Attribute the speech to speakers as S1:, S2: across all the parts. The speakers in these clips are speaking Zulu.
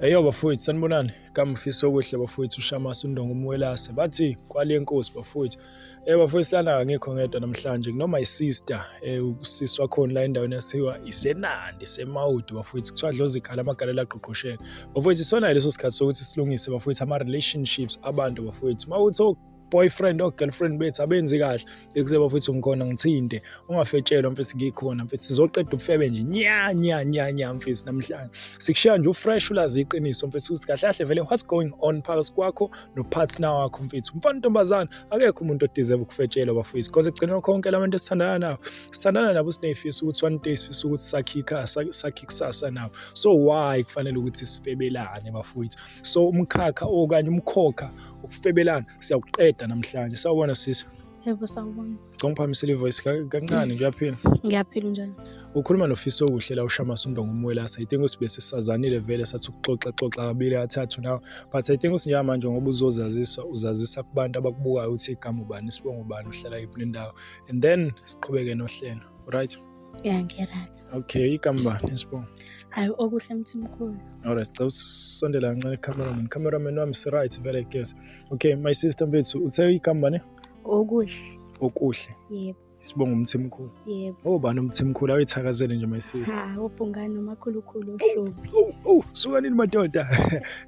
S1: Eyo bafowethu sanibonani kamfisa okuhle bafowethu ushamasa undonga umwelase bathi kwale nkosi bafowethu eh bafowethu silana ngekho ngedwa namhlanje kunoma isister eh usisi wakhona la endaweni yasiwa isenandi semawudi bafowethu kuthiwa dlozi ikhala amagalela agqugqushela bafowethu isona leso sikhathi sokuthi silungise bafowethu ama relationships abantu bafowethu mawuthi boyfriend or girlfriend bethu abenzi kahle ekuze bafethu ngikhona ngithinte ungafetshelwa mfethu ngikhona mfethu sizoqeda ubufebe nje nya nya nya nya mfethu namhlanje sikushiya nje ufresh ulazi iqiniso mfethu ukuthi kahle kahle vele what's going on phakathi kwakho nopartner wakho mfethu mfana ntombazana akekho umuntu odeserve ukufetshelwa bafethu because ekugcineni konke labantu esithandana nabo sithandana nabo sinefiso ukuthi one day sifisa ukuthi sakhe ikhasa sakhe ikusasa nabo so why kufanele ukuthi sifebelane bafethu so umkhakha okanye umkhokha ukufebelana siyakuqeda namhlanje sawubona sisi yebo sawubona
S2: cha ngiphamisela ivoice
S1: kancane nje uyaphila ngiyaphila njani
S2: ukhuluma nofiso
S1: okuhle la ushama sundo ngumwelasa i think usibe sisazanile vele sathi ukuxoxa xoxa kabili athathu nawe but i think usinjaya manje ngoba uzozaziswa uzazisa kubantu abakubukayo ukuthi igama ubani isibongo ubani uhlala yiphi nendawo and then siqhubeke nohlelo right ya ngiryt
S2: okay igama bani
S1: esibongo hayi okuhle
S2: mthimkhulu alright cela
S1: usondela kancane cameraman cameraman wami siright vele guys okay my sister mfethu uthe igama bani okuhle okuhle
S2: yebo isibongo umthimkhulu
S1: yebo oh bani
S2: umthimkhulu
S1: awuyithakazele nje my sister ha ubhungane umakhulukhulu
S2: ohlobi oh, oh, oh, suka nini
S1: madoda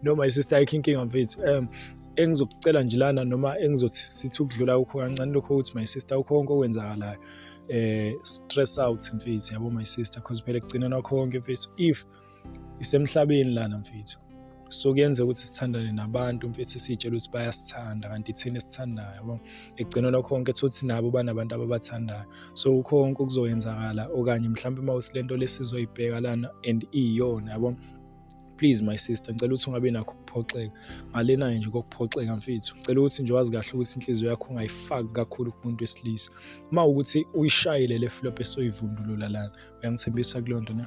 S1: no my sister ayikho inkinga mfethu um engizokucela nje lana noma engizothi sithi ukudlula ukho kancane lokho ukuthi my sister ukho konke okwenzakalayo eh stress out mfethu yabo my sister because phela kugcinana kwakho konke mfethu if isemhlabeni lana mfethu so kuyenza ukuthi sithandane nabantu mfethu sitshela ukuthi bayasithanda kanti thina esithandayo yabo ekugcineni kwakho konke thothi nabo banabantu ababathandayo so ukho konke okuzoyenzakala okanye mhlawumbe uma usilento lesizoyibheka lana and iyona yabo please my sister ngicela ukuthi ungabi nakho ukuphoxeka ngalenayo nje kokuphoxeka mfethu ngicela ukuthi nje wazi kahle ukuthi inhliziyo yakho ungayifaki kakhulu kumuntu wesilisa uma ukuthi uyishayile le flop esoyivundulula lana uyangithembisa kuleyo nto na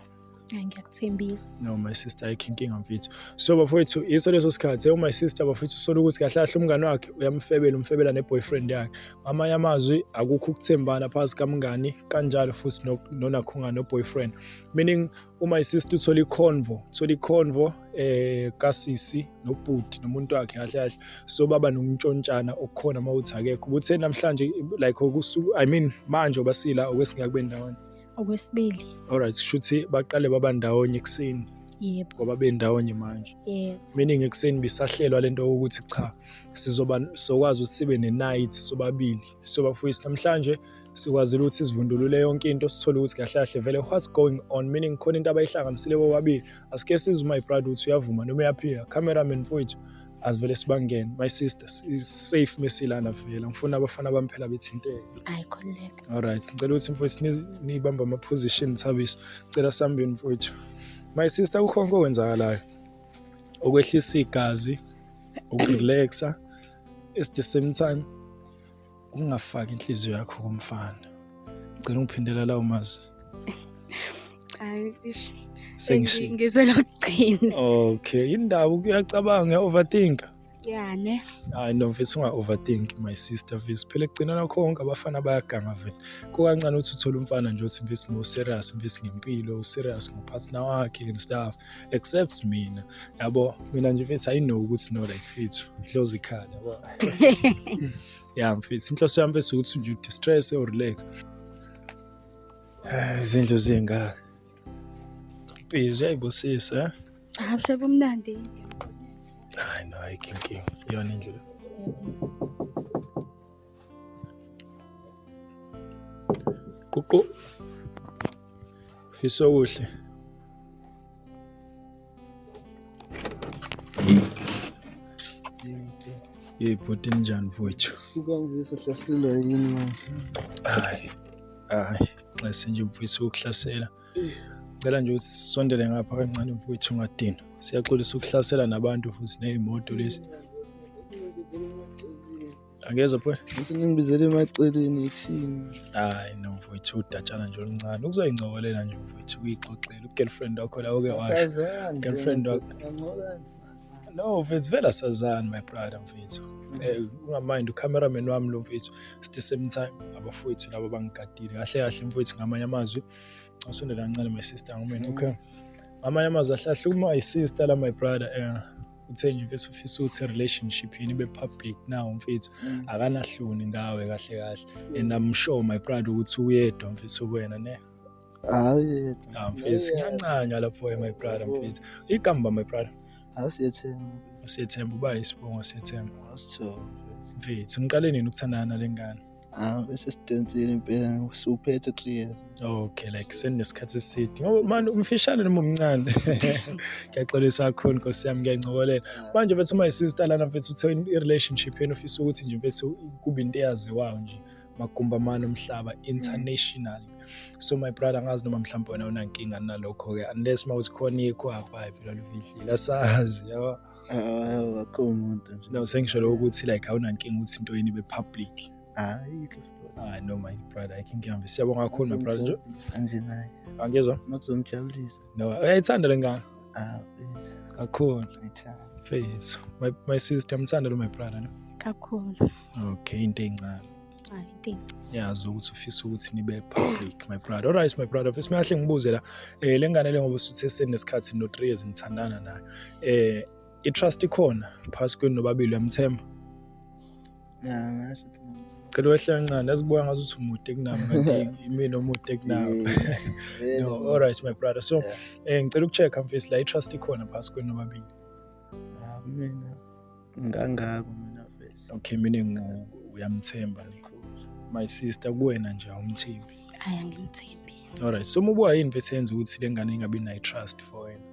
S1: ngiyakuthembisa
S2: no my sister
S1: ayikho inkinga mfethu so bafowethu iso leso sikhathi ewu my sister bafowethu usola ukuthi kahle kahle umngane wakhe uyamfebela umfebela ne-boyfriend yakhe ngamanye amazwi akukho ukuthembana phakathi kamngani kanjalo futhi nonakhunga no-boyfriend meaning no Uma isister uthola iconvo, uthola iconvo eh kasisi nobhuti nomuntu wakhe kahle kahle so baba nokuntshontshana okukhona uma uthi akekho ukuthi namhlanje like okusuku i mean manje obasila okwesingeke kube ndawonye okwesibili
S2: alright shuthi
S1: baqale baba ndawonye ekuseni yebo ngoba
S2: bendawonye
S1: manje yebo meaning
S2: ekuseni
S1: bisahlelwa lento ukuthi cha sizoba sokwazi ukuthi sibe ne night sobabili sobafuyisi namhlanje sikwazile ukuthi sizivundulule yonke into sithole ukuthi kahle kahle vele what's going on meaning khona into abayihlanganisile bobabili asike size uma ibride ukuthi uyavuma noma uyaphika cameraman mfowethu asivele sibangene my sister is safe mesilana vela ngifuna abafana bami phela bethinteke ayi khululeka all
S2: right ngicela ukuthi
S1: mfowethu nibamba ama position thabiso ngicela sambeni mfowethu my sister kukhonke okwenzakalayo okwehlisa igazi ukurelaxa at the same time ungafaki inhliziyo yakho kumfana ngicela ungiphindela lawo mazwi
S2: Sengishi- ngizwe lokugcina okay indawo
S1: kuyacabanga uya-overthinka ya ne
S2: hayi no mfethu
S1: unga-overthink my sister mfethu phela ekugcinana konke abafana bayaganga vele kukancane ukuthi uthole umfana nje othi mfethu no-serious mfethu ngempilo u-serious ngopartner wakhe and stuff except mina yabo mina nje mfethu i know ukuthi no like mfethu ihlozi ikhala yabo ya mfethu inhloso yami mfethu ukuthi nje distress or relax eh, izindlu zingaka mpezi yayibosisa eh? ah sebumnandi hayi no ayikho inkinga iyona indlela Ququ. Fisa okuhle. Hey bhuti njani mfowethu? Sikangisa
S3: hlasela yini manje? Hayi. Hayi,
S1: nxese nje mfowethu ukuhlasela. Ngicela nje ukuthi sisondele ngapha kancane mfowethu ungadina. Siyaxolisa ukuhlasela nabantu futhi nezimoto lezi. angezwa pho ngisinibizele
S3: emaceleni ithini hayi no mfowethu
S1: udatshana nje oluncane ukuzoyingcokolela nje mfowethu uyixoxela ugirlfriend wakho lawo ke washo girlfriend wakho no mfethu vele asazani my brother mfethu eh, ungamind ucameraman wami lo mfethu at the same time abafowethu laba bangigadile kahle kahle mfowethu ngamanye amazwi usondela kancane my sister ngomeni okay ngamanye amazwi ahlahle uma isister la my brother um uthe nje mfethu ufisa ukuthi relationship yini ibe public now mfethu mm. akanahloni ngawe kahle kahle and i'm sure my pride ukuthi uyedwa mfethu kuwena ne hayi
S3: ah mfethu
S1: ngiyancanywa lapho my brother mfethu igamba my brother asiyethemba
S3: usethemba uba
S1: isibongo sethemba asithola
S3: mfethu
S1: niqale nini ukuthandana lengane Ah, bese
S3: sidonsile impela usuphethe three years okay like
S1: seninesikhathi eside ngoba manje umfishane noma umncane ngiyaxolisa kakhulu nkosi yami ngiyancokolela manje mfethu my sister lana mfethu uthe i-relationship yenu ufisa ukuthi nje mfethu kube into eyaziwayo nje magumba amane omhlaba mm. internationally so my brother angazi noma mhlawumbe wena unankinga nalokho-ke unless uma uthi khona ikho hapha phela lufihlile asazi yabo akho
S3: muntu nje no sengisho lokho ukuthi
S1: like awunankinga ukuthi into yini be public hayi hayi no my brother i can ngiyambe siyabonga kakhulu my brother nje kanje naye
S3: angizwa
S1: makuzomjabulisa
S3: no uyayithanda
S1: lengane ah
S3: kakhulu
S1: ngithanda face
S3: my
S1: my sister ngithanda lo my brother no kakhulu
S2: okay into
S1: encane Hayi,
S2: inkinga. ngiyazi ukuthi ufisa
S1: ukuthi nibe public my brother alright my brother fesi mahle ngibuze la eh lengane le ngoba usuthe senesikhathi no 3 years nithandana nayo eh i trust ikhona phasi kwenu nobabili uyamthemba Ya,
S3: ngasho ukuthi ngamthemba. cela wehle kancane
S1: azibuka ngathi uthi umude kunami kanti imina omude kunami Yeah. no alright my brother so Yeah. eh ngicela ukucheck mfisi la i trust ikhona phasi kwenu nobabili Ah,
S3: kumina. ngangako mina vese okay mina
S1: uyamthemba my sister kuwena nje awumthembi hayi angimthembi
S2: alright so mubuka
S1: yini mfethu yenza ukuthi le ngane ingabi nayo trust for wena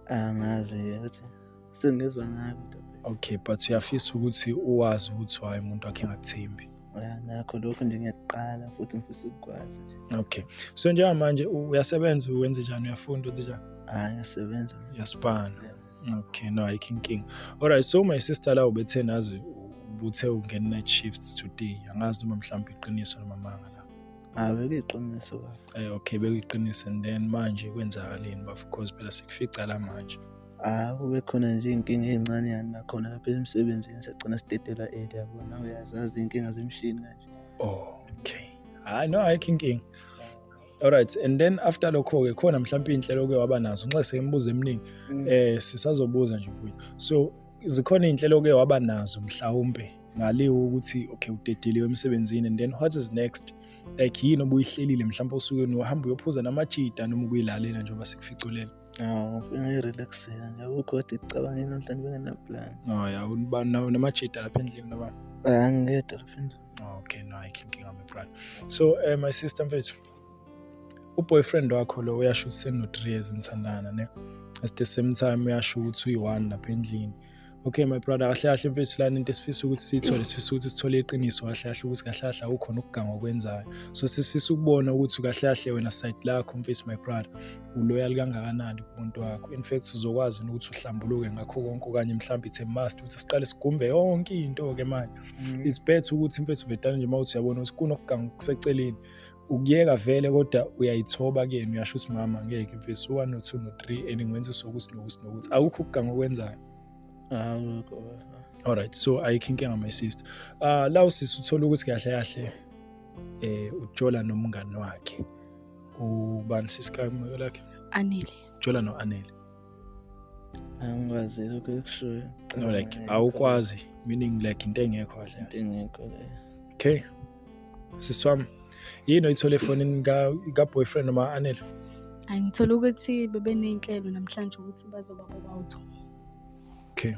S3: angazi ukuthi sengizwa ngayo okay but
S1: uyafisa ukuthi uwazi ukuthi waye umuntu wakhe engakuthembi ya nakho lokho
S3: nje ngiyaqala futhi ngifisa ukukwazi okay so
S1: njengamanje uyasebenza wenze njani uyafunda wenze njani hayi ngiyasebenza
S3: ngiyasipana yeah.
S1: Okay, no, ayikho inkinga. Alright, so my sister la ubethe nazi ubuthe ungena night shifts today. Angazi noma mhlawumbe iqiniso noma manga la. Ah, bekuyiqiniso
S3: baba. Eh, okay,
S1: bekuyiqiniso and then manje kwenzakaleni bafo because phela sikufica la manje. Ah, kube khona
S3: nje inkinga ezincane yani nakhona lapha emsebenzini sagcina sidedela early yabona uyazazi inkinga zemshini kanje. Okay.
S1: Hayi no ayikho inkinga. Alright and then after lokho ke khona mhlawumbe inhlelo ke waba nazo nxa seyimbuza eminingi mm. eh sisazobuza nje futhi so zikhona inhlelo ke waba nazo mhlawumbe ngaliwo ukuthi okay udedeliwe emsebenzini and then what is next like yini obuyihlelile mhlawumbe osuke uhamba uyophuza namajita noma ukuyilalela njengoba sikuficulela Awu ngifuna
S3: i-relaxing nje akukho kodwa ekucabangeni namhlanje bengenaplan. Oh ya unibani nawe
S1: namajita lapha endlini noma? Hayi angingedwa lapha
S3: endlini. Oh, okay no ayikho
S1: inkinga my brother. So eh my sister mfethu uboyfriend wakho lo uyasho ukuthi seno 3 years nithandana ne. At the same time uyasho ukuthi uyi-one lapha endlini. okay my brother kahle kahle mfethu lana into esifisa ukuthi siyithole sifisa ukuthi sithole iqiniso kahle kahle ukuthi kahle kahle akukhona ukuganga okwenzayo so sisifisa ukubona ukuthi kahle kahle wena side lakho mfethu my brother uloyal kangakanani kumuntu wakho in fact uzokwazi ukuthi uhlambuluke ngakho konke okanye mhlawumbe ithe must ukuthi siqale sigumbe yonke into ke manje mm. it's better ukuthi mfethu vetane nje mawuthi uyabona ukuthi kunokuganga okuseceleni ukuyeka vele kodwa uyayithoba kuyena uyasho ukuthi mama ngeke mfesi u-one no-two no-three and ngiwenza usokuthi nokuthi nokuthi awukho ukuganga okwenzayo alright so ayikho inkinga my sister uh, la usisi uthola ukuthi kahle kahle eh ujola nomngani wakhe ubani sisikameko lakhe anele jola
S2: no-anele
S1: angikwazi
S3: lokho ekushoyo no like
S1: awukwazi meaning like into engekho kahle into engekho
S3: okay
S1: sisi wami yini oyithole efonini ka-boyfriend noma anele ayi ngithole
S2: ukuthi bebeney'nhlelo namhlanje ukuthi bazoba bobawutho
S1: okay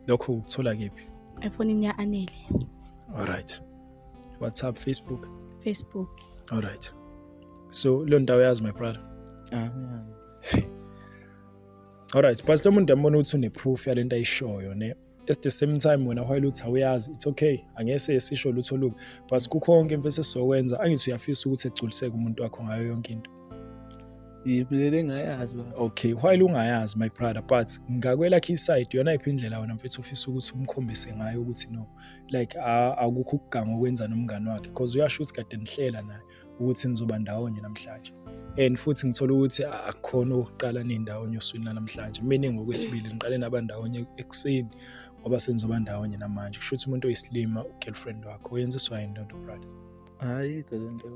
S1: lokho ukuthola kephi efonini ya-anele
S2: alright
S1: whatsapp facebook facebook alright so leyo ndawo yazi my brother ah, yeah. alright but lo muntu yambona ukuthi une-proof yale nto ayishoyo ne at the same time wena while uthi awuyazi it's okay angese sisho lutho lubi but kukho konke mfethu esizokwenza angithi uyafisa ukuthi egculiseke umuntu wakho ngayo yonke into
S3: ngibulele ngayazi baba okay while ungayazi
S1: my brother but ngakwelakhe iside yona iphi indlela wena mfethu ufisa ukuthi umkhombise ngayo ukuthi no like akukho ukuganga okwenza nomngane wakhe because uyasho ukuthi kade nihlela naye ukuthi nizoba ndawonye namhlanje and futhi ngithola ukuthi akukhona ukuqala nindawonye oswini lanamhlanje meaning ngokwesibili niqale naba ndawonye ekuseni ngoba senizoba ndawonye namanje kusho ukuthi umuntu oyisilima ugirlfriend wakho oyenziswa yini
S3: lonto
S1: brother hayi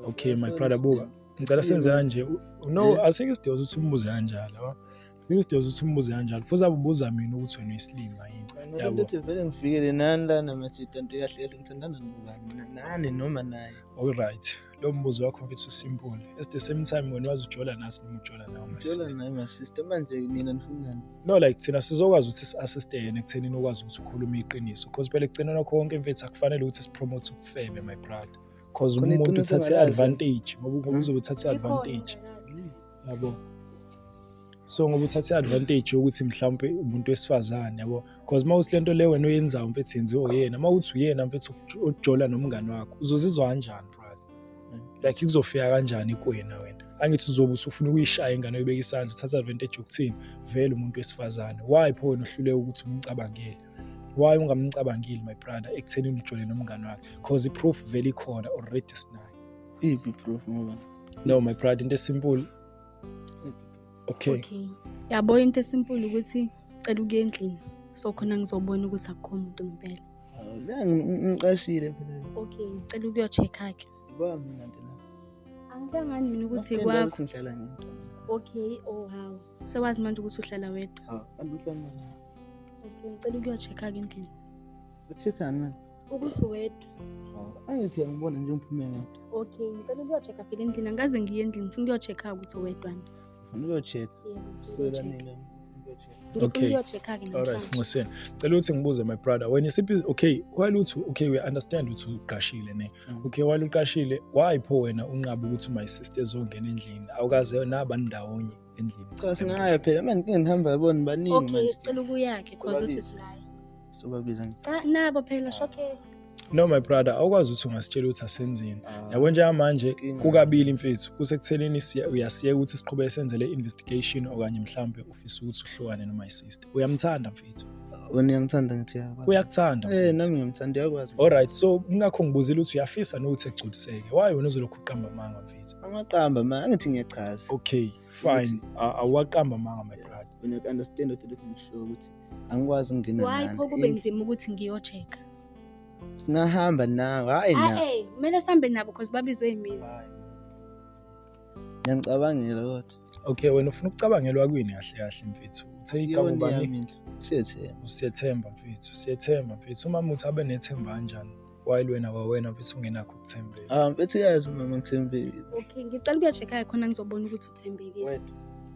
S3: okay
S1: my brother buka ngicela senze kanje no asike sidinga ukuthi umbuze kanjalo Ngeke sidose ukuthi umbuze kanjalo. Futhi abubuza mina ukuthi wena uyisilima yini. Yabo. Yabo. Ukuthi vele ngifikele
S3: nani lana majita nti kahle kahle ngithandana nobani na- nani noma naye. All right.
S1: Lo mbuzo wakho mfethu usimpule. At the same time wena wazi ujola nasi noma ujola nawe my Ngithola sister. naye my sister manje
S3: nina nifunani? No like thina
S1: sizokwazi ukuthi si-assiste yena ekuthenini ukwazi ukuthi ukhulume iqiniso. Because phela ekugcineni kwakho konke mfethu akufanele ukuthi sipromote ubufebe my brother. Because Khona umuntu iqiniso uthathe ongalazi. advantage ngoba ngoba Hmm? uzobe uthathe advantage. yabo so ngoba uthathe advantage yokuthi mhlawumbe umuntu wesifazane yabo because uma uthi lento le wena oyenzayo mfethu yenziwe uyena uma uthi uyena mfethu ojola nomngane wakho uzozizwa kanjani brother like kuzofika kanjani kuwena wena angithi uzobe usufuna ukuyishaya ingane uyibeka isandla uthatha advantage yokuthini vele umuntu wesifazane why pho wena uhluleka ukuthi umcabangele why ungamcabangeli my brother ekutheni ulijole nomngane wakhe because i-proof vele ikhona already sinayo Iphi proof
S3: ngoba? No my brother into
S1: esimple. Okay. Okay. Yabo
S2: into esimple ukuthi cela ukuye endlini. So khona ngizobona ukuthi akukho umuntu ngempela. La
S3: ngiqashile phela. Okay, ngicela ukuyo
S2: check hakhe. Ba mina nje
S3: la. Angihlangani
S2: mina ukuthi kwakho. Ngihlala ngedwa.
S3: Okay, oh
S2: wow. Sewazi manje ukuthi uhlala wedwa. Ha, angihlangani. Okay,
S3: ngicela
S2: ukuyo check hakhe endlini. Check manje.
S3: ukuthi
S2: wedwa angithi
S3: angibona nje umphume ngedwa okay ngicela
S2: ukuyochecka phela endlini angikaze ngiye endlini ngifuna ukuyochecka ukuthi wedwana ngifuna ukuyochecka
S1: siwelanile okay alright sinxuseni cela ukuthi ngibuze my brother wena isiphi okay while uthi okay we understand ukuthi uqashile ne mm. okay while uqashile why pho wena unqaba ukuthi my sister ezongena endlini awukaze nabani ndawonye endlini cha singaya phela
S3: manje ngeke ngihamba yabona baningi okay sicela ukuyakhe cause
S2: uthi silaya sobabiza ngithi
S3: cha nabo phela showcase
S2: no my brother
S1: awukwazi ukuthi ungasitshela ukuthi asenzeni ah, yabo njengamanje kukabili mfethu kusekutheleni uyasiyeka ukuthi siqhube senze le investigation okanye mhlambe ufisa ukuthi uhlukane noma isister uyamthanda mfethu wena uyangithanda
S3: ngithi yakwazi uyakuthanda eh nami
S1: ngiyamthanda uyakwazi
S3: all right so ngakho
S1: ngibuzile ukuthi uyafisa nokuthi egculiseke why wena uzolokhu uqamba amanga mfethu amaqamba ma angithi
S3: ngiyachaza okay fine
S1: awaqamba manga my brother wena understand what
S3: lokhu ngisho ukuthi angikwazi ukungena nani why pho kube nzima
S2: ukuthi ngiyocheka
S3: singahamba nawe hayi na hey kumele sambe nabo
S2: because babizwe yimina
S3: ngiyangicabangela kodwa okay wena ufuna
S1: ukucabangelwa kwini kahle kahle mfethu uthe igama ubani siyethemba usiyethemba mfethu siyethemba mfethu umama uthi abe nethemba kanjani while wena wawena mfethu ungenakho ukuthembeka ah mfethu uyazi mama
S3: ngithembile okay ngicela
S2: ukuyochekhaya khona ngizobona ukuthi uthembekile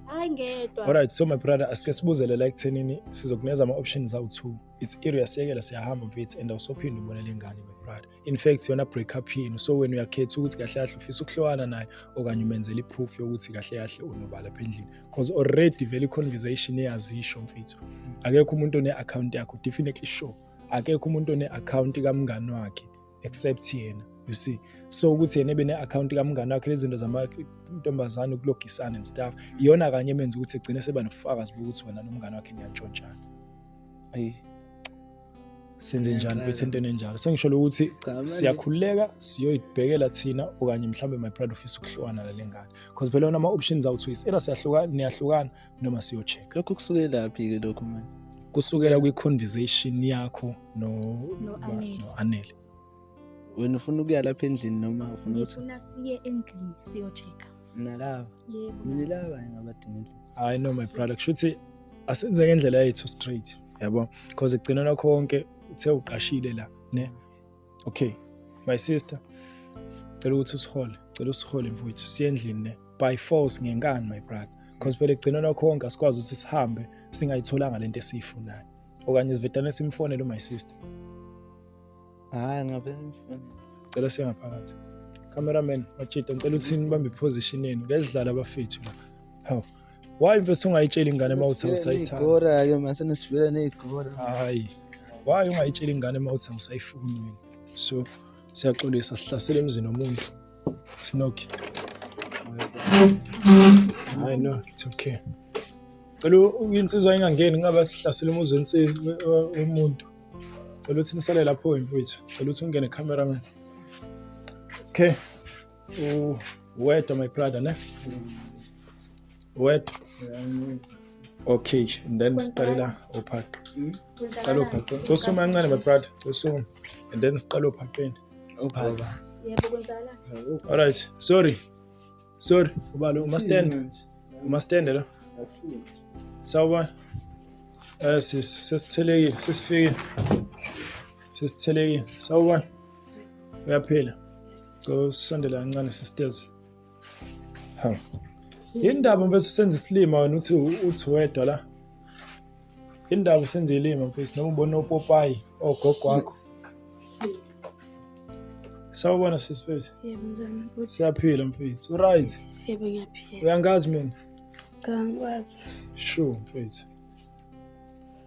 S2: hayi ngedwa alright so my brother
S1: asike sibuzele la ekuthenini sizokuneza ama-options awu-two it's area siyekela siyahamba mfethu and awusophinde ubone le ngane my brother in fact yona break up yini so wena uyakhetha ukuthi kahle kahle ufisa ukuhlowana naye okanye umenzela i-proof yokuthi kahle kahle unobala lapha endlini because already vele i-conversation iyazisho mfethu akekho umuntu one-akhawunti yakho definitely sure akekho umuntu one account kamngani wakhe except yena you see so ukuthi yena ebe ne-akhawunti kamngane wakhe lezinto zamantombazane ukulogisana and stuff iyona kanye emenza ukuthi egcine seba nobufakazi bokuthi wena nomngane wakhe niyantshontshana ayi senze njani futhi entweni enjalo sengisholo ukuthi siyakhululeka siyoyibhekela thina okanye mhlawumbe my pride ofisa ukuhlukana nale ngane because phela yona ama-options awuthi uyisela siyahlukana niyahlukana noma siyo-check lokho kusukelaphi-ke
S3: lokho mani kusukela
S1: kwi-conversation yakho no-anele
S3: wena ufuna ukuya lapha endlini noma ufuna ukuthi siye endlini
S2: siyo-check nalaba
S3: yebo mina laba ngingabadinga endlini hayi no my brother
S1: kushuthi asenze ngendlela yethu straight yabo because ekugcinana konke uthe uqashile la ne okay my sister cela ukuthi usihole cela usihole mfowethu siye endlini ne by force ngenkani my brother because phela ekugcineni konke asikwazi ukuthi sihambe singayitholanga lento esiyifunayo okanye sivedane simfonele my sister hayi ngabe
S3: cela siye
S1: ngaphakathi cameraman machita ngicela uthini bambe iposition yenu ngedlala abafethu la hawu why mfethu ungayitsheli ingane uma uthi awusayithanda igora ke mase nesifika
S3: negora hayi
S1: why ungayitsheli ingane uma uthi awusayifuni wena so siyaxolisa sihlasele emzini womuntu sinoki hayi no it's okay cela insizwa ingangeni ngaba sihlasele umuzi wensizwa womuntu cela uthi nisale lapho mfowethu cela uthi ungene cameraman okay U wedwa my brother ne? Wedwa. Okay, and then siqalela uphaqo. Siqala uphaqo. Cosuma kancane my brother, cosuma. And then siqala uphaqweni. Uphaqo. Yebo kwenzala.
S2: All right, sorry.
S1: Sorry, ubalo uma stand. Uma stand lo. Akusini. Sawubona. Eh sis, sesithelekile, sesifikile. Sesithelekile. Sawubona. uyaphila cela usondela kancane sisters ha yini ndaba mfethu senza isilima wena uthi uthi wedwa la yini ndaba usenza ilima mfethu noma ubona opopayi ogogo wakho sawubona sisi mfethu yebo njani mfethu
S2: siyaphila mfethu
S1: uright yebo ngiyaphila
S2: uyangazi mina
S1: cha
S2: ngikwazi sure mfethu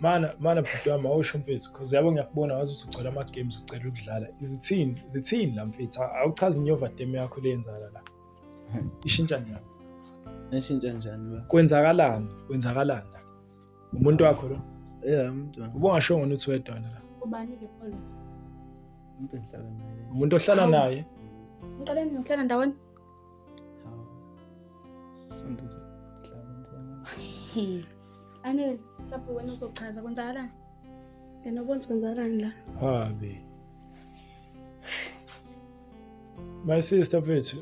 S1: mana mana bhuti wami awusho mfethu cause yabo ngiyakubona wazi ukuthi ugcwele ama-games ucela ukudlala izithini zithini la mfethu awuchazi inyovatem yakho leyenzala la ishintsha njani eshintsha
S3: njani kwenzakalani
S1: kwenzakalani la umuntu wakho lo yeah umuntu
S3: ubongashongo ukuthi wedwana
S1: la ubani-ke
S2: pholo umuntu
S3: ohlala naye umuntu ohlala naye
S1: ngiqaleni ngihlala
S2: ndaweni Anele, mhlawumbe wena uzochaza kwenzakalani? Yena ubona kwenzakalani la? Habi.
S1: My sister mfethu,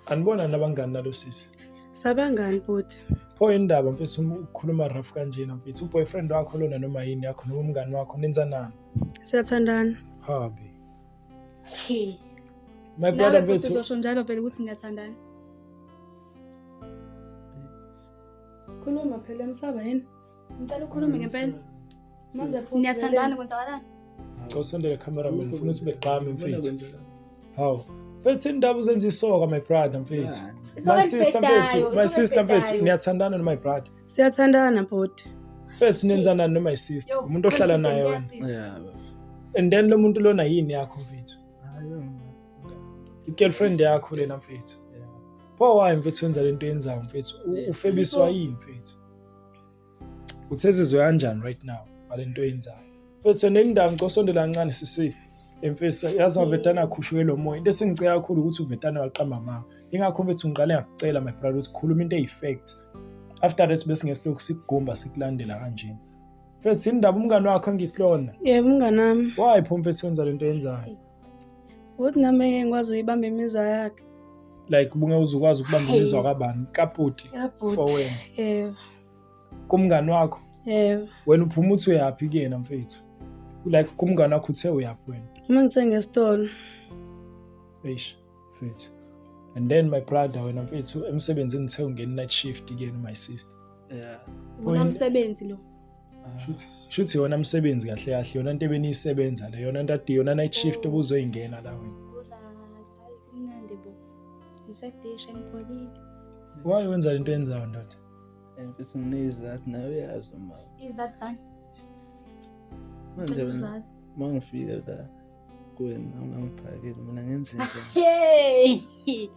S1: anibona nabangani nalo sisi? Sabangani
S2: bhuti? Pho indaba
S1: mfethu ukhuluma rough kanjena mfethu. Uboyfriend wakho lona noma yini yakho noma umngani wakho nenzanani? Siyathandana.
S2: Habi. My
S1: brother bethu. Uzosho njalo phela ukuthi
S2: ngiyathandana. Khuluma phela msaba yini? Ngicela ukhulume ngempela. Manje phosa. Ngiyathandana kwenzakalani? Cosendele
S1: cameraman ngifuna ukuthi beqame mfethu. Haw. Mfethu indaba uzenza isoka my brother mfethu. My sister mfethu, my sister mfethu niyathandana no my brother. Siyathandana bhoti.
S2: Mfethu nenzanani
S1: no my sister? Umuntu ohlala naye wena. Yeah.
S3: and then
S1: lo muntu lona yini yakho mfethu i-girlfriend yakho lena mfethu pho wayi mfethu wenza le nto yenzayo mfethu U- ufebiswa yini mfethu uthi ezizwe kanjani right now ngale nto yenzayo mfethu nendawo ngicosondela kancane sisi emfisa yazi avetana akhushuke lo moya into esingicela kakhulu ukuthi uvetana waqamba mama ingakho mfethu ngiqale ngakucela my brother ukuthi khuluma into eyi-fact after that bese ngesilokhu sikugumba sikulandela kanjena Mfethu indaba umngane wakho angisilona. Yebo umngane wami.
S2: Why pho mfethu wenza
S1: lento yenzayo? Ukuthi
S2: nami ngeke ngikwazi uyibamba imizwa yakhe. Like ubunge
S1: uzukwazi ukubamba imizwa kabani? Kaputi. For wena. Yebo.
S2: Kumngane
S1: wakho? Yebo. Wena
S2: uphuma uthi
S1: uyaphi kuyena mfethu? Like kumngane wakho uthe uyaphi wena? Uma ngithe ngesitolo. Eish. mfethu and then my brother wena mfethu emsebenzini uthe ungena night shift kuyena my sister yeah
S3: wona msebenzi
S2: lo ah. shuthi shuthi
S1: yona msebenzi kahle kahle yona into ebeniyisebenza le yona ntate yona night shift obuzoyingena la wena kumnandi
S2: bo ngisebhisha ngipholile why wenza
S1: lento yenzayo ndoda eh, mfethu
S3: nginezathi nayo uyazi uma izathi zani manje mangifika la kuwena ungangiphakeli mina ngenze njani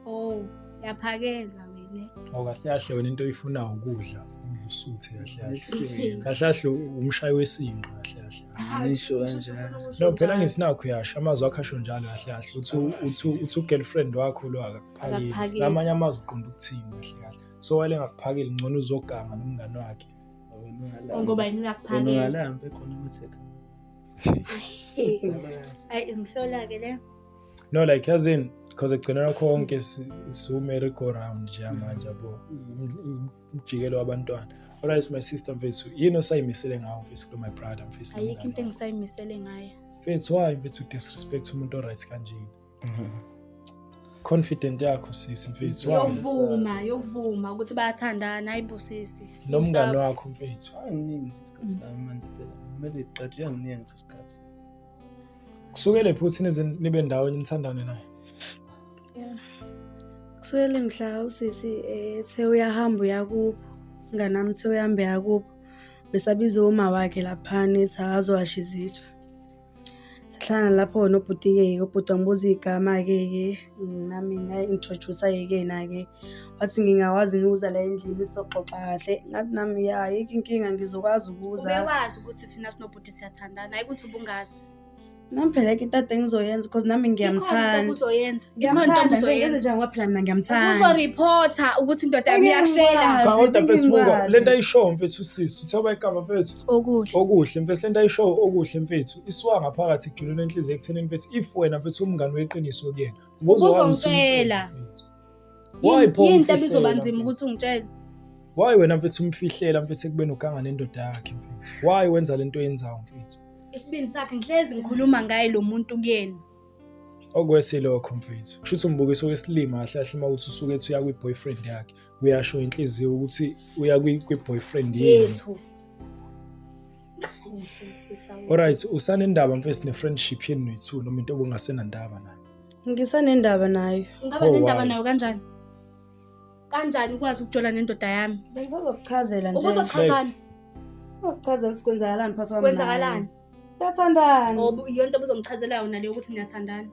S2: oh yaphakelwa wena awu kahle kahle wena
S1: into oyifuna ukudla usuthe kahle kahle umshayi wesinqa kahle kahle ngisho
S3: kanjalo no phela ngisinakho
S1: yasho amazwi akho asho njalo kahle kahle uthi uthi uthi ugirlfriend wakho lo akakuphakeli namanye amazwi uqonda ukuthini kahle kahle so wale ngakuphakeli ngcono uzoganga nomngane wakhe ngoba
S2: yini uyakuphakela ungalambe khona ukuthi ayi imhlola-ke le no like yazini
S1: because ekugcinela konke siwumere go round nje manje yabo umjikelo wabantwana alright my sister mfethu yini osayimisele ngawo mfethu kulo my brother mfethu ayikho into engisayimisele
S2: ngayo mfethu why mfethu
S1: disrespect umuntu oright kanjena confident yakho sisi mfethu yokuvuma yokuvuma
S2: ukuthi bayathandana ayibo sisi nomngane wakho
S1: mfethu anginingi isikhathi
S3: sami manje phela kumele iqatshe yanginingi ngesikhathi isikhathi
S1: kusukele futhi nize nibe ndawonye nithandane naye yeah
S2: kusukele mhla usisi ethe eh, uyahamba uyakubo nganami uthe uyahamba uyakubo besabiza uma wakhe laphana ethi akazowasha izitsha sahlangana lapho nobhuti-ke ubhuti wangibuza iy'gama-ke ke nami nga-introduce yekena-ke wathi ngingawazi ngiwuza la endlini sizoxoxa kahle ngathi nami ya yikho inkinga ngizokwazi ukuza ubewazi ukuthi thina
S4: sinobhuti siyathandana hayi ukuthi ubungazi nami phela
S2: ke into ade ngizoyenza because nami ngiyamthanda uzoyenza ikhona
S4: into Ngiyamthanda, nje, yenze obuzoyenza
S2: njani ngoba phela mina ngiyamthanda. uzoreporta
S4: ukuthi indoda yami Engeke ngikwazi. iyakushela Cha kodwa mfethu buka
S1: Ngingwazi. lento ayishow mfethu usisi uthe bayigama mfethu okuhle okuhle
S4: mfethu lento ayishow
S1: okuhle mfethu isuka ngaphakathi kujule lenhliziyo ekuthenini mfethu if wena mfethu umngani weqiniso kuyena ubuzokwazi ukuthi Ubuzongitshela. umtshele,
S4: mfethu.
S1: Why Yini- pho yini into umfihlela, ebizoba nzima mfethu?
S4: ukuthi ungitshele why wena
S1: mfethu umfihlela mfethu ekubeni uganga nendoda yakhe mfethu why wenza lento oyenzayo mfethu isibindi sakhe
S4: ngihlezi ngikhuluma ngaye lo muntu kuyena okwesi
S1: lokho mfethu kusho ukuthi umbukiso wesilima kahle kahle uma ukuthi usuke ethi uya kwi-boyfriend yakhe uyasho inhliziyo ukuthi uya kwi-boyfriend yethu Alright, usanendaba mfethu ne-friendship yenu noyi-two noma into obungasenandaba nayo? Ngisanendaba
S2: nayo. Ngaba oh, nendaba nayo
S4: kanjani? Kanjani ukwazi ukujola nendoda yami? Bengisazokuchazela nje.
S2: Ubuzochazani?
S4: Uzokuchazela
S2: ukuthi kwenzakalani phakathi kwami. Kwenzakalani?
S4: Siyathandana.
S2: Ngoba yonto
S4: obuzomchazela yona leyo ukuthi niyathandana.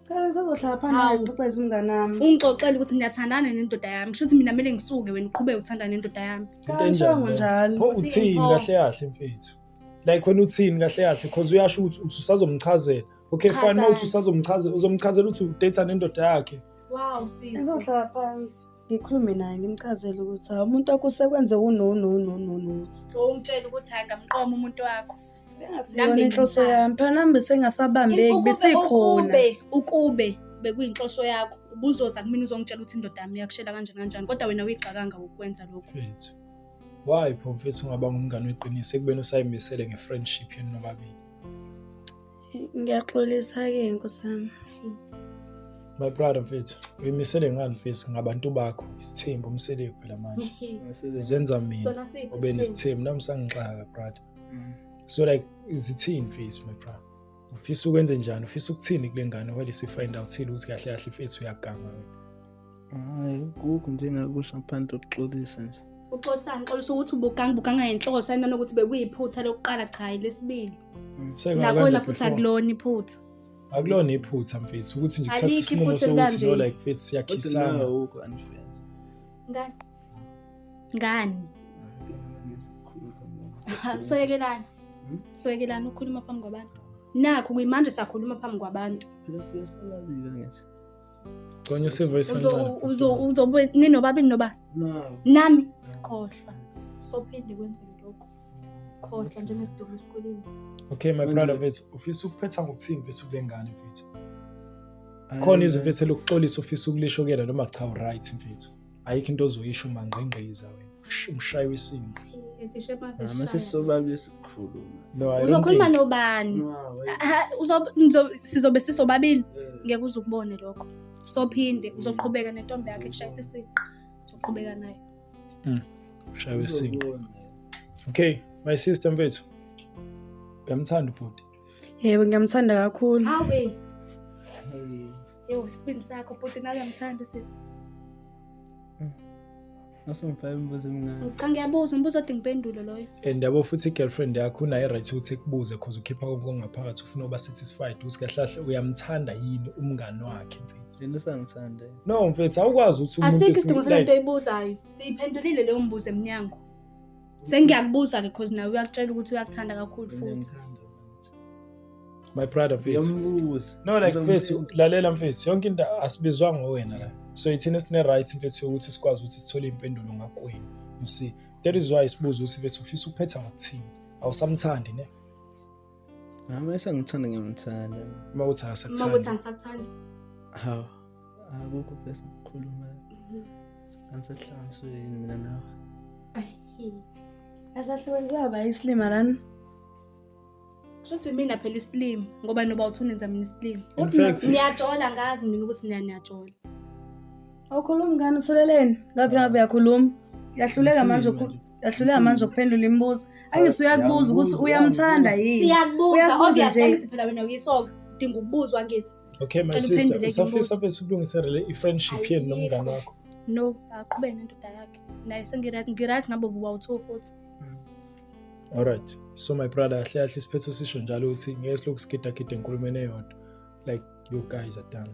S4: Cha ngisazohlala
S2: phansi naye ngixoxeze umngane wami. Ungixoxele ukuthi niyathandana
S4: nendoda yami. Kusho ukuthi mina kumele ngisuke wena uqhubeke uthandana nendoda yami. Cha ngishongo njalo.
S2: Pho uthini kahle
S1: kahle mfethu? Like wena uthini kahle kahle because uyasho ukuthi uthi usazomchazela. Okay fine mawuthi usazomchazela uzomchazela ukuthi udate nendoda yakhe. Wow sisi.
S4: Ngizohlala phansi.
S2: ngikhulume naye ngimchazele ukuthi hawu umuntu wakho usekwenze unononononothi
S4: umtshela ukuthi hayi ngamqoma umuntu wakho nami
S2: inhloso yami phana mbe sengasabambeki besekhona ukube
S4: bekuyinhloso yakho ubuzoza kumina uzongitshela ukuthi indoda yami iyakushela kanjani kanjani kodwa wena uyigxakanga ukwenza lokho mfethu
S1: why pho mfethu ungaba ngumngane weqiniso ekubeni usayimisele nge-friendship yenu nobabili
S2: ngiyaxolisa-ke nkosi
S1: yami my brother mfethu uyimisele ngani mfethu ngabantu bakho isithembu umsele phela manje uzenza mina ube nesithembu
S4: nami
S1: sangixaka brother mm. so like izithini mfethu my brother ufisa ukwenze njani ufisa ukuthini kule ngane while si find out sile ukuthi kahle kahle mfethu uyaganga wena Hayi, kukho
S3: nje engakusho ngaphandle kokuxolisa nje. Uxolisani? Xolisa
S4: ukuthi ubuganga ubuganga ngenhloso ayinani ukuthi bekuyiphutha lokuqala cha hayi lesibili. Mm, Nakhona Sekwakwenza futhi before. akulona iphutha. Akulona
S1: iphutha mfethu ukuthi nje kuthatha Alikho isinqumo iphutha sokuthi elikanje.
S4: no
S1: like mfethu
S4: Kodwa
S1: siyakhisana. nawe awukho unfair.
S3: Ngani?
S4: Ngani? Ha, Soyekelani. Hmm? Soyekelani ukukhuluma phambi kwabantu. Nakho kuyimanje sakhuluma phambi kwabantu. Phela siyasababila
S3: ngithi. Gconya
S1: usivoice kancane. Uzobe
S4: ninobabini noba? Nami khohlwa. Sophinde kwenzeke lokho. Khohlwa njengesidumo esikoleni. Okay my brother
S1: mfethu ufisa ukuphetha ngokuthini mfethu kule ngane mfethu? Khona izwi mfethu elokuxolisa ufisa ukulisho kuyena noma cha u right mfethu? ayikho into ozoyisho umangqingqiza wena umshayi wesinqe
S3: uzokhuluma
S1: nobani
S4: sizobe sisobabili eh. ngeke uze ukubone lokho sophinde mm. uzoqhubeka nentombi yakhe kushayisa isinqa uzoqhubeka naye mm.
S1: ushaywe isinqa okay my sister mfethu uyamthanda ubhuti Yebo ngiyamthanda
S2: kakhulu. Hawe. Yebo
S4: isibindi sakho bhuti nawe uyamthanda sisi.
S3: Nasongifaka imibuzo emingaki? Ngicanga ngiyabuza umbuzo odinga
S4: impendulo loyo. And yabo futhi i-girlfriend
S1: yakho unayo right ukuthi ikubuze cause ukhipha konke okungaphakathi ufuna uba satisfied ukuthi kahle kahle uyamthanda yini umngani wakhe mfethu. Yena usangithanda.
S3: No mfethu awukwazi
S1: ukuthi umuntu Asikho isidingo sale nto oyibuzayo.
S4: Siyiphendulile leyo mbuzo emnyango. sengiyakubuza-ke cause nawe uyakutshela ukuthi uyakuthanda kakhulu futhi
S1: my brother mfethu no like
S3: mfethu
S1: lalela mfethu yonke into asibizwa ngowena la so ithina sine-right mfethu yokuthi sikwazi ukuthi sithole impendulo ngakwenu you see that is why sibuza ukuthi mfethu ufisa ukuphetha ngokuthini awusamthandi ne Hawu
S3: uma esangithanda ngiyamthanda. Uma uthi Uma ukuthi akasakuthandi.
S1: angisakuthandi
S4: Hawu.
S3: Akukho bese ukukhuluma. Angisahlanganiswe yini mina nawe. Ayi.
S2: Akahlukaniselwa ba isilima lana.
S4: Shuthi mina phela isilima ngoba noba uthunenza mina isilima. In Uthi fact- mina- Niyajola
S1: ngazi
S4: mina ukuthi niya- niyajola.
S2: Awukhulumi ngani utholeleni? Ngaphi ngabe uyakhuluma? Yahluleka manje Isilima ukhuluma. nje. ahluleka manje ukuphendula imibuzo angise uyakubuza ukuthi uyamthanda yini siyakubuza Uyakubuza
S4: obvious nje. angithi
S2: phela wena uyisoka
S4: udinga ukubuzwa ngithi okay my Cela sister uphendule
S1: usafisa imibuzo. bese
S4: ukulungisa
S1: le i-friendship yenu nomngane wakho no aqhube
S4: nendoda yakhe naye sengirathi ngirathi nabo bubawu-two futhi alright
S1: so my brother ahle ahle isiphetho sisho njalo ukuthi ngeke silokhu sigidagide enkulumeni eyodwa like you guys are done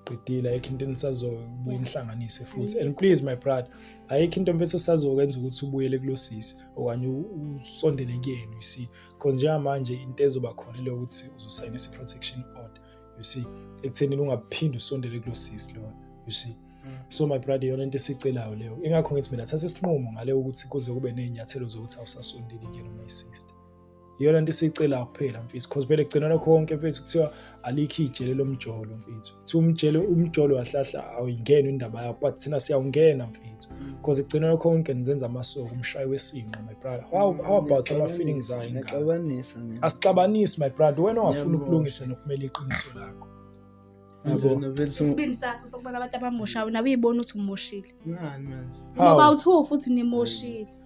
S1: qedile ayikho into enisazobuye nihlanganise futhi and please my brother ayikho into mfethu osazokwenza ukuthi ubuyele kulosisi okanye usondele kuyena you see because njengamanje into ezoba khona leyo ukuthi uzosayina i-protection order you see ekuthenini ungaphinde usondele kulosisi lona you see mm. so my brother yona into esicelayo leyo ingakho ngithi mina thatha isinqumo ngale ukuthi kuze kube nezinyathelo zokuthi awusasondeli kuyena my sister iyona nto esiyicelayo kuphela mfethu because phela kugcinana konke mfethu kuthiwa alikho ijele lomjolo mfethu kuthiwa umjele umjolo wahlahla awuyingeni indaba yakho but thina siyawungena mfethu because kugcinana konke nizenza amasoko umshayi wesinqa my brother how, how about ama-feelings ayo ingane asixabanisi my brother wena ongafuni ukulungisa nokumela iqiniso lakho isibindi sakho
S4: sokubona abantu abamoshayo nawe uyibona ukuthi umoshile ngoba uthiwa futhi nimoshile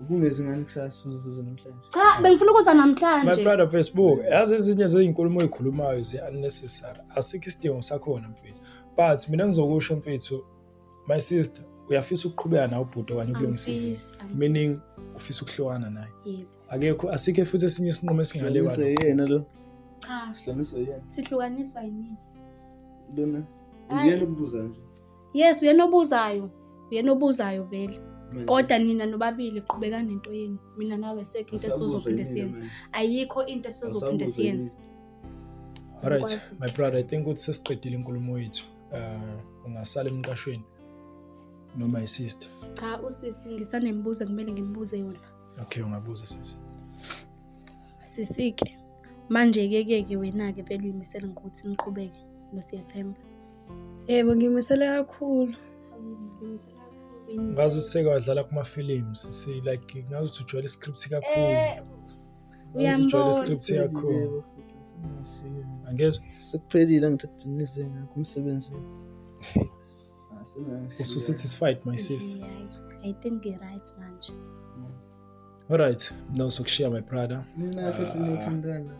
S4: Ubungezi
S3: ngani kusasa uzuze namhlanje? Cha, bengifuna ukuza
S4: namhlanje. My brother Facebook,
S1: yazi ezinye zezinkulumo oyikhulumayo ze unnecessary. Asikho isidingo sakhona mfethu. But mina ngizokusho mfethu, my sister, uyafisa ukuqhubeka nawe ubhuti okanye ukulungisa izinto. Meaning ufisa ukuhlukana naye. Yebo. Akekho
S4: asikho futhi
S1: esinye isinqumo esingale kwalo. Yena lo. Cha. Sihlukaniswa yena.
S3: Sihlukaniswa yini? Lona. Uyena ukubuza nje. yes uyena
S4: obuzayo uyena obuzayo vele kodwa nina nobabili qhubeka nento yenu mina nawe sekho into esizophinde siyenze ayikho into esizophinde siyenze
S1: alright my brother i think ukuthi sesiqedile inkulumo yethu uh, ungasala emqashweni noma isister cha usisi
S4: ngisanembuzo kumele ngimbuze yona okay ungabuza
S1: sisi sisike
S4: manje ke ke ke wena ke vele uyimisela ngokuthi niqhubeke nosiyethemba Yebo
S2: ngimisele kakhulu.
S1: Ngazi ukuthi seke wadlala kuma films si like ngazi ukuthi ujwayele iscript kakhulu. Eh Ngazi ukuthi ujwayele iscript kakhulu. Angezwa? Sekuphelile
S3: ngithathinise ngakho umsebenzi.
S1: Ususatisfied my sister. I think
S4: you're right manje.
S1: Alright, no sokushiya my brother. Nina ah. sisi
S3: niyathandana.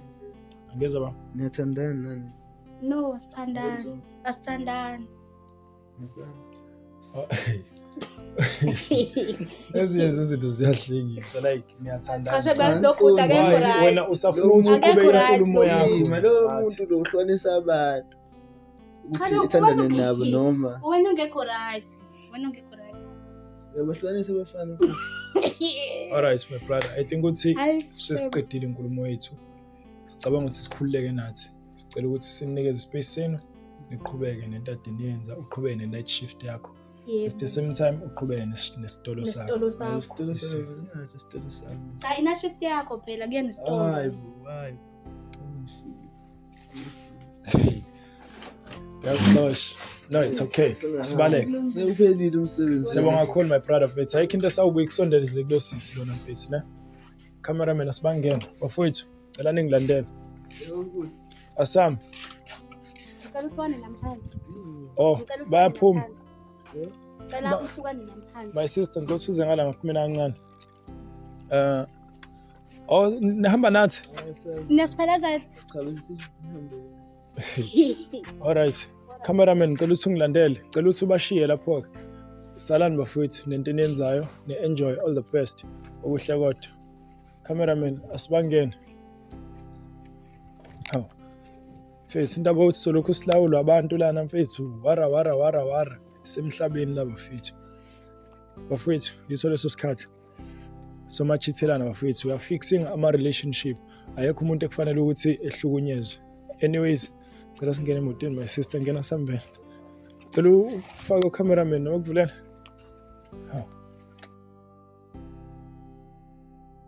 S3: Angezwa
S1: ba? Niyathandana nani?
S3: No,
S4: asithandani. Asithandani.
S1: Oh, ezinye zezinto ziyahlekisa like niyathandana
S4: wena usafuna ukuthi
S1: uqhubeke inkulumo yakho lo muntu lo
S3: uhlonisa abantu ukuthi ithandane nabo noma wena ungekho right
S4: wena ungekho right
S3: yabahlukanisa abafana alright
S1: my brother i think ukuthi sesiqedile inkulumo yethu sicabanga ukuthi sikhululeke nathi sicela ukuthi sinikeze space senu niqhubeke nento ade niyenza uqhubeke ne-night shift yakho at the same time uqhubeke nesitolo sakho
S3: cha ina-shift
S4: yakho phela kuye nesitolo
S1: Yakuxosha. No, it's okay. Sibaleke. Sewuphelile
S3: umsebenzi. Siyabonga kakhulu my brother
S1: mfethu. Ayikho into esawubuya ikusondelize kulo sisi lona mfethu ne. Cameraman asibangena. Bafowethu, cela ningilandele. Asam. Ngicela
S4: ufone namphansi. Oh, Ngicela
S1: ufone bayaphuma. namphansi. Ngicela
S4: Ba- uhlukane namphansi. My sister ngicela usize
S1: ngala ngaphi mina kancane. Eh Oh nihamba nathi? Niyasiphelezela.
S4: Cha bese
S1: Alright. Cameraman ngicela ukuthi ungilandele. Ngicela ukuthi ubashiye lapho ke. Salani bafowethu nento eniyenzayo ne enjoy all the best. Okuhle kodwa. Cameraman asibangene. Haw. Mfethu indaba yokuthi solokhu silawulwa abantu lana mfethu. Wara wara wara wara. Semhlabeni laba mfethu. bafowethu yiso leso sikhathi somachithelana bafowethu we are fixing ama relationship ayekho umuntu ekufanele ukuthi ehlukunyezwe anyways cela singene emotweni my sister ngena sambeni cela ufake ucameraman noma kuvulela